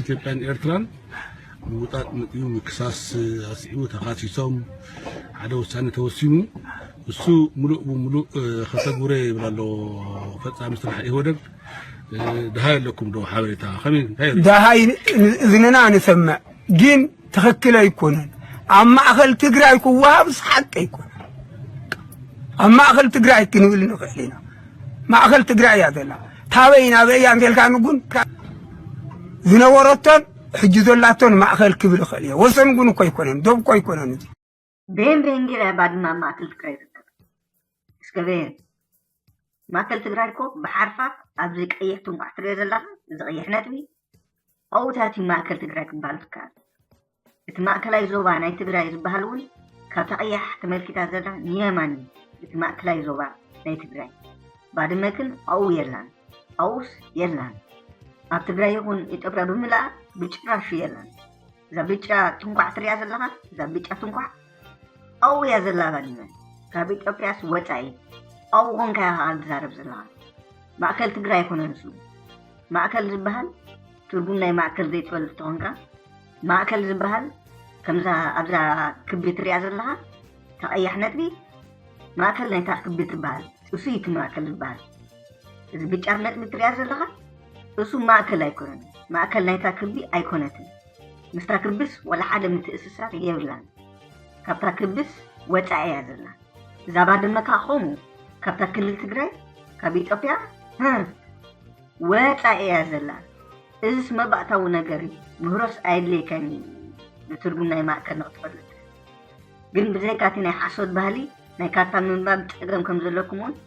ኢትዮጵያን ኤርትራን ምውጣጥ መጺኡ ምክሳስ ኣስዒቡ ተኻሲሶም ሓደ ውሳኔ ተወሲኑ እሱ ሙሉእ ብሙሉእ ከተግብሮ ይብል ኣሎ ፈጻሚ ስራሕ ኢህወደግ ድሃይ ኣለኩም ዶ ሓበሬታ ከመይ እንታይ ደሃይ እዝንና ንሰምዕ ግን ትኽክል ኣይኮነን። ኣብ ማእኸል ትግራይ ክወሃብስ ሓቂ ኣይኮነን። ኣብ ማእኸል ትግራይ ክንብል ንኽእል ኢና። ማእኸል ትግራይ እያ ዘላ ታበይ ናበይ እያ እንተልካ ንጉን ዝነበረቶን ሕጂ ዘላቶን ማእኸል ክብል ይኽእል እየ። ወሰን ጉን እኮ ኣይኮነን፣ ዶብ እኮ ኣይኮነን። ብሄን ብሄን ገይረ እያ ባድመ ኣብ ማእከል ትግራይ ዝርከብ እስከ ብሄን ማእከል ትግራይ እኮ ብሓርፋ ኣብዚ ቀይሕ ትንቋዕ ትሪኦ ዘለኻ እዚ ቀይሕ ነጥቢ ኣብኡታት እዩ ማእከል ትግራይ ክበሃል ዝከኣል እቲ ማእከላይ ዞባ ናይ ትግራይ ዝበሃል እውን ካብታ ቀያሕ ተመልኪታ ዘላ ንየማን እዩ እቲ ማእከላይ ዞባ ናይ ትግራይ ባድመ ግን ኣብኡ የላን ኣብኡስ የላን ኣብ ትግራይ ይኹን ኢትዮጵያ ብምልኣ ብጭራሹ የላን እዛ ብጫ ትንኳዕ ትሪኣ ዘለኻ እዛ ብጫ ትንኳዕ ኣብኡ እያ ዘላ ባድመ ካብ ኢትዮጵያስ ወፃኢ ኣብኡ ኮንካ ኢኻ ኸዓ ትዛረብ ዘለኻ ማእከል ትግራይ ኣይኮነን ንሱ ማእከል ዝበሃል ትርጉም ናይ ማእከል ዘይትፈልጥ ተኾንካ ማእከል ዝበሃል ከምዛ ኣብዛ ክቢ ትሪኣ ዘለኻ ተቐያሕ ነጥቢ ማእከል ናይታ ክቢ ትበሃል እሱ እዩ እቲ ማእከል ዝበሃል እዚ ብጫር ነጥቢ ትሪኣ ዘለኻ እሱ ማእከል ኣይኮነን፣ ማእከል ናይታ ክቢ ኣይኮነትን። ምስታ ክብስ ወላ ሓደ ምትእስሳር የብላን። ካብታ ክብስ ወጻኢ እያ ዘላ። እዛ ባድመ ከኣ ከምኡ ካብታ ክልል ትግራይ ካብ ኢትዮጵያ ህ ወጻኢ እያ ዘላ። እዝስ መባእታዊ ነገር እዩ። ምህሮስ ኣየድልየካን እዩ ንትርጉም ናይ ማእከል ንክትፈልጥ። ግን ብዘይካ እቲ ናይ ሓሶት ባህሊ ናይ ካርታ ምንባብ ጸገም ከም ዘለኩም እውን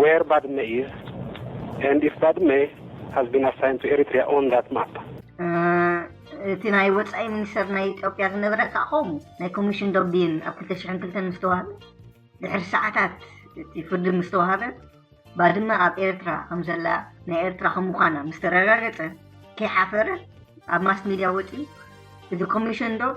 Where Badme is and if Badme has been assigned to Eritrea on that map. እቲ ናይ ወፃኢ ሚኒስተር ናይ ኢትዮጵያ ዝነበረ ከዓ ከምኡ ናይ ኮሚሽን ዶቢን ኣብ 2002 ምስ ተዋህበ ድሕሪ ሰዓታት እቲ ፍርዲ ምስ ተዋህበ ባድመ ኣብ ኤርትራ ከም ዘላ ናይ ኤርትራ ከም ምዃና ምስ ተረጋገፀ ከይሓፈረ ኣብ ማስ ሚድያ ወፂኡ እቲ ኮሚሽን ዶብ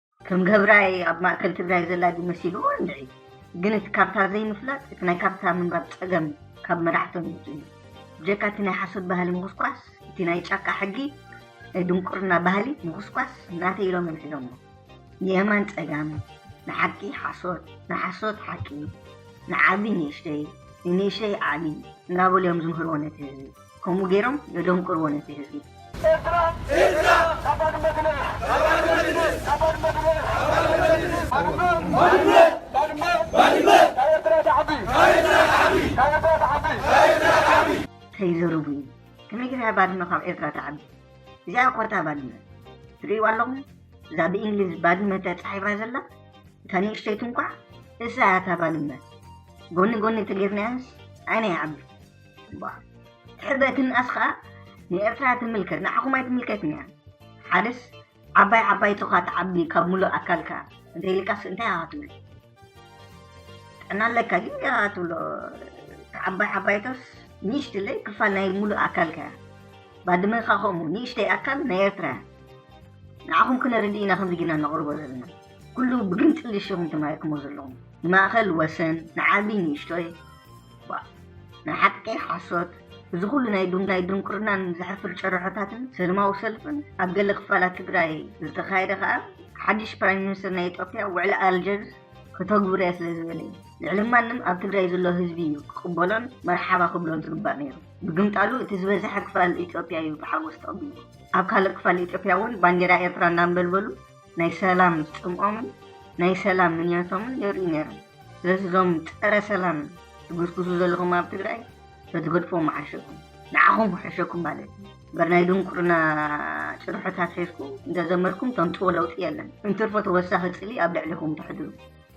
ከም ገብራይ ኣብ ማእከል ትግራይ ዘላ ድዩ መሲልዎ እንድዒ ግን እቲ ካብታ ዘይምፍላጥ እቲ ናይ ካብታ ምንባብ ጸገም ካብ መራሕቶም ይምጽእ እዩ ብጀካ እቲ ናይ ሓሶት ባህሊ ምኹስኳስ እቲ ናይ ጫካ ሕጊ ናይ ድንቁርና ባህሊ ምኹስኳስ ናተይ ኢሎም እዮም ሒዞሞ ንየማን ጸጋም ንሓቂ ሓሶት ንሓሶት ሓቂ ንዓቢ ንእሽተይ ንንእሽተይ ዓቢ እናበሉ እዮም ዝምህርዎ ነቲ ህዝቢ ከምኡ ገይሮም የደንቁርዎ ነቲ ህዝቢ። ከይዘርቡ እዩ ከመይ ጌራ እያ ባድመ ካብ ኤርትራ ትዓቢ እዚኣ እያ ኮርታ ባድመ ትርእይዋ ኣለኹም እዛ ብእንግሊዝ ባድመ ተጻሒፋ ዘላ እታ ንእሽተይቱ እንኳዕ እሳ እያ እታ ባድመ ጎኒ ጎኒ ተገይርናያንስ ዓይና ይዓቢ እምበኣር ሕበ ትንኣስ ኸኣ ንኤርትራ ትምልከት ንዓኹም ኣይትምልከትን እያ። ሓደስ ዓባይ ዓባይ ቶኻ ትዓቢ ካብ ምሉእ ኣካልካ እንተይልካስ እንታይ ኢኻ ትብል? ጥዕና ኣለካ ግን ገና ትብሎ ዓባይ ዓባይቶስ ንእሽትለይ ክፋል ናይ ምሉእ ኣካልካ እያ። ባድመ ኸኣ ከምኡ ንእሽተይ ኣካል ናይ ኤርትራ እያ። ንዓኹም ክነርድእ ኢና ከምዚ ጌርና ነቕርቦ ዘለና ኩሉ ብግምጥልሽ ኢኹም ተማሂርክሞ ዘለኹም ንማእኸል ወሰን ንዓቢ ንእሽቶይ ዋእ ንሓቂ ሓሶት እዚ ኩሉ ናይ ዱንዳይ ድንቁርናን ዘሕፍር ጭርሖታትን ሰልማዊ ሰልፍን ኣብ ገለ ክፋላት ትግራይ ዝተኻየደ ከኣ ሓድሽ ፕራይም ሚኒስተር ናይ ኢትዮጵያ ውዕሊ ኣልጀርስ ክተግብርያ ስለ ዝበለ እዩ ልዕሊ ማንም ኣብ ትግራይ ዘሎ ህዝቢ እዩ ክቕበሎን መርሓባ ክብሎን ዝግባእ ነይሩ ብግምጣሉ እቲ ዝበዝሐ ክፋል ኢትዮጵያ እዩ ብሓጎስ ተቐቢሉ ኣብ ካልእ ክፋል ኢትዮጵያ እውን ባንዴራ ኤርትራ እናንበልበሉ ናይ ሰላም ጽምኦምን ናይ ሰላም ምንያቶምን የርእዩ ነይሮም። ስለዚ እዞም ጸረ ሰላም ትጉስጉሱ ዘለኹም ኣብ ትግራይ ተትገድፎ ምሓሸኩም ንዓኹም ክሕሸኩም ማለት እዩ እምበር ናይ ድንቁርና ጭርሖታት ሒዝኩም እንተዘመርኩም ተምፅዎ ለውጢ የለን እንትርፎ ተወሳኺ ፅሊ ኣብ ልዕሊኹም ተሕድሩ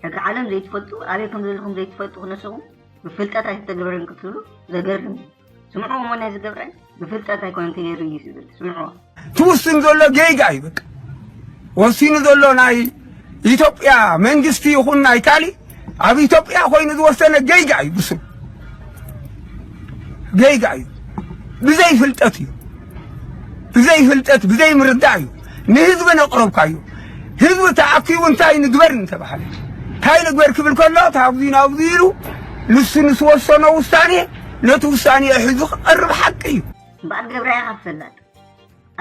ሕጊ ዓለም ዘይትፈልጡ ኣበይ ከም ዘለኹም ዘይትፈልጡ ክነስኹም ብፍልጠት ኣይተተግበርን ክትብሉ ዘገርም እዩ ስምዑ እሞ ነዚ ገብረ ብፍልጠት ኣይኮነን ተገይሩ እዩ ዝብል ስምዑ ትውስን ዘሎ ጌጋ እዩ በቃ ወሲኑ ዘሎ ናይ ኢትዮጵያ መንግስቲ ይኹን ናይ ካሊእ ኣብ ኢትዮጵያ ኮይኑ ዝወሰነ ጌጋ እዩ ብሱ ጌጋ እዩ ብዘይ ፍልጠት እዩ ብዘይ ፍልጠት ብዘይ ምርዳእ እዩ ንህዝቢ ነቕረብካዩ ህዝቢ ተኣኪቡ እንታይ ንግበር እንተበሃለ እንታይ ንግበር ክብል ከሎ ታብዚ ናብዚ ኢሉ ንሱ ንስወሰኖ ውሳኔ ነቲ ውሳኔኡ ሒዙ ክቐርብ ሓቂ እዩ። እምበኣር ገብራይ ኢኻ ትፍለጥ።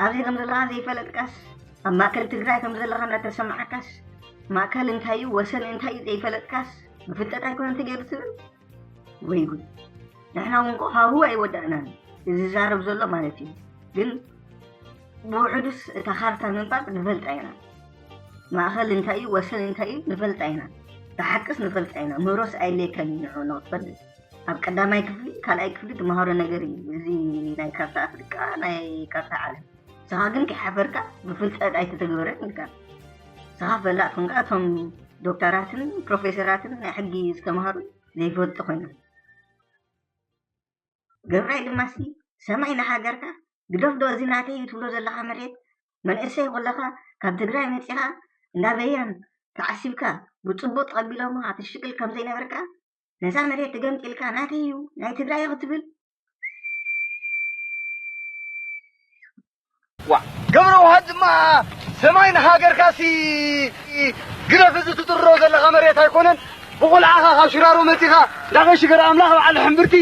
ኣብዚ ከም ዘለኻ ዘይፈለጥካስ፣ ኣብ ማእከል ትግራይ ከም ዘለኻ እናተሰምዓካስ፣ ማእከል እንታይ እዩ ወሰን እንታይ እዩ ዘይፈለጥካስ፣ ብፍልጠት ኣይኮነን ተገይሩ ትብል? ወይ ጉድ! ንሕና እውን እኮ ሃሁ ኣይወዳእናን እዩ ዝዛረብ ዘሎ ማለት እዩ። ግን ብውሕዱስ እታ ካርታ ምንባብ ንፈልጣ ኢና። ማእከል እንታይ እዩ ወሰን እንታይ እዩ ንፈልጣ ኢና። እታ ሓቅስ ንፈልጣ ኢና። ምህሮስ ኣየድልየካን እዩ ንዕኡ ንኽትፈልጥ። ኣብ ቀዳማይ ክፍሊ ካልኣይ ክፍሊ ትመሃሮ ነገር እዩ እዚ ናይ ካርታ ኣፍሪቃ ናይ ካርታ ዓለም ንስኻ ግን ከይሓፈርካ ብፍልጠት ኣይተተግበረን ኢልካ ንስኻ ፈላጥ ኮንካ እቶም ዶክተራትን ፕሮፌሰራትን ናይ ሕጊ ዝተምሃሩ ዘይፈልጡ ኮይኖም ገብራይ ድማ ሲ ሰማይ ንሃገርካ ግደፍ ዶ እዚ ናተይ እዩ ትብሎ ዘለካ መሬት መንእሰይ ኮለካ ካብ ትግራይ መፂኻ እንዳበየን ተዓሲብካ ብፅቡቅ ተቐቢሎምኻ ትሽቅል ከምዘይነበርካ ነዛ መሬት ትገምጢልካ ናተይ እዩ ናይ ትግራይ ክትብል ገብረ ውሃት ድማ ሰማይ ንሃገርካሲ ግደፍ እዚ ትጥርሮ ዘለኻ መሬት ኣይኮነን ብቑልዓኻ ካብ ሽራሮ መፂኻ ዳቐ ሽገር ኣምላኽ በዓል ሕምብርቲ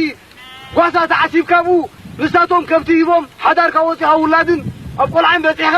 ጓሳ ተዓሲብካ ቡ ንሳቶም ከብቲ ሂቦም ሓዳርካ ወፂኻ ውላድን ኣብ ቆልዓን በፂሕኻ